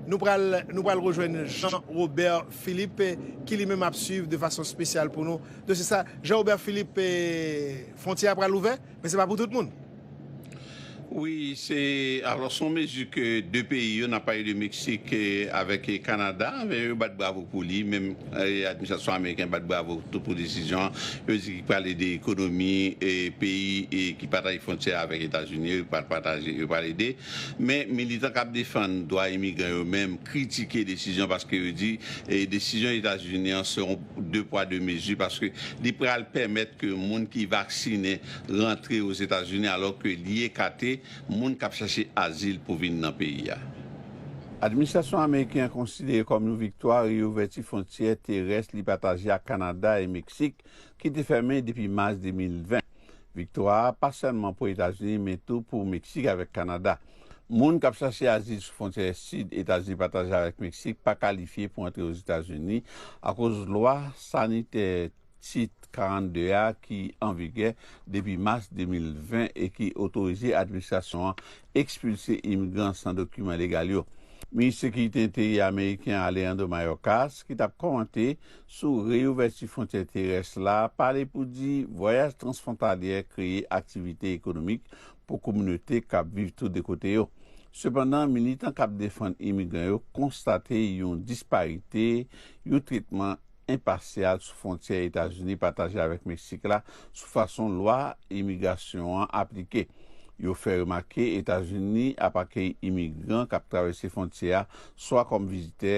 Nou pral nou pral rejwenn Jean Robert Philippe ki li menm ap swiv de fason spesyal pou nou dosye sa. Jean Robert Philippe, fwontyè a pral ouvè, men se pa pou tout moun. Wi, se alò son mezi ke 2 peyi yo, nap pale de Meksik avèk Kanada, yo bat bravo pou li, menm administrasyon ameriken bat bravo tou pou desizyon an. Yo di ki pral ede ekonomi peyi ki pataje fwontyè avèk Etazini yo, yo pral pataje, yo pral ede. Men, militan k ap defann dwa imigran yo menm kritike desizyon paske yo di desizyon Etazini an se yon de pwa de mezi paske li pral pèmèt ke moun ki vaksinen rantre Ozetazini alò ke li ekate moun k ap chache azil pou vin nan peyi a. Administrasyon ameriken an konsidere kòm yon viktwa reyouvèti fwontyè terès li pataje ak Kanada e Meksik ki te fèmen depi mas 2020. Viktwa a pa sèlman pou Etazini men tou pou Meksik avèk Kanada. Moun k ap chache azil sou fwontyè sid Etazini pataje avèk Meksik pa kalifye pou antre Ozetazini akoz lwa sanitè Tit 42 a ki an vigè depi mas 2020 e ki otorize administrasyon an ekspilse imigran san dokiman legal yo. Minis Sekirite Enteryè ameriken Alejandro Mayorkas, ki t ap kòmante sou reyouvèti fwontyè terès la, pale pou di vwayaj transfwontalyè kreye aktivite ekonomik pou kominote k ap viv tou de kote yo. Sepandan, militan k ap defann imigran yo konstate yon disparite, yon tretman. enpasyal sou fwontyè Etazini pataje avèk Meksik la sou fason lwa imigrasyon an aplike. Yo fè remake Etazini ap akeyi imigran k ap travèse fwontyè a swa kòm vizitè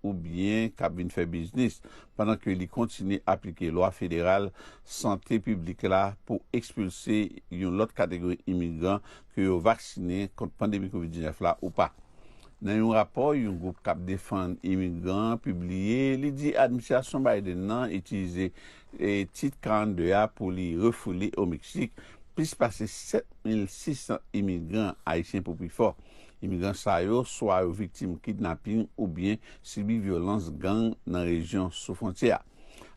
oubyen k ap vin fè biznis, pandan ke li kontinye aplike lwa federal sante piblik la pou ekspilse yon lòt kategori imigran ke yo vaksinen kont pandemi covid 19 la ou pa. Nan yon rapò yon gwoup k ap defann imigran an pibliye, li di administrasyon Biden nan itilize Tit 42 a pou li refoule o Meksik plis pase 7,600 imigran, Ayisyen pou pi fò. Imigran sa yo swa yo viktim kidnaping oubyen sibi vyolans gang nan rejyon sou fwontyè a.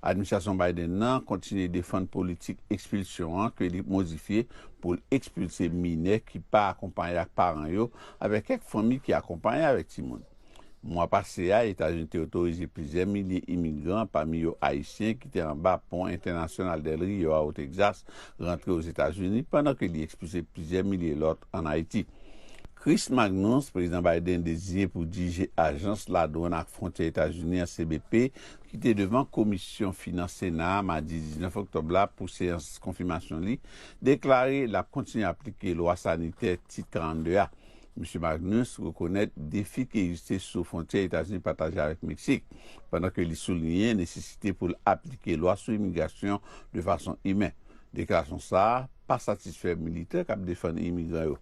Administrasyon Biden nan kontinye defann politik ekspilsyon an ke li modifye pou l ekspilse minè ki pa akonpaye ak paran yo avèk kèk fanmi ki akonpaye avèk timoun. Mwa pase a, Etazini te otorize plizyè milye imigran, pami yo Ayisyen, ki te anba pon entènasyonal Del Rio a Otexas, rantre Ozetazini, pandan ke li ekspilse plizyè milye lòt ann Ayiti. Chris Magnus, Prezidan Biden deziye pou dirije Ajans Ladwann ak Fwontyè Etazini an, CBP, ki te devan Komisyon Finans Sena a madi 19 oktòb la pou seyans konfimasyon li, deklare l ap kontinye aplike lwa sanitè Tit 42 a. Misye Magnus rekonèt defi ki egziste sou fwontyè Etazini pataje avèk Meksik, pandan ke li souliyen nesesite pou l aplike lwa sou imigrasyon de fason imen. Deklarasyon sa a pa satisfè militè k ap defann imigran yo.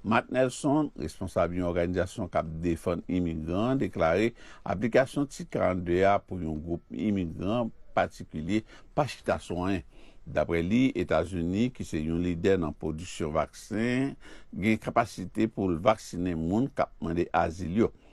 Marc Nelson, responsab yon òganizasyon k ap defann imigran an, deklare aplikasyon Tit 42 a pou yon gwoup imigran patikilye pa chita sou anyen. Daprè li, Etazini, ki se yon lidè nan pwodiksyon vaksen, gen kapasite pou l vaksinen moun k ap mande azil yo.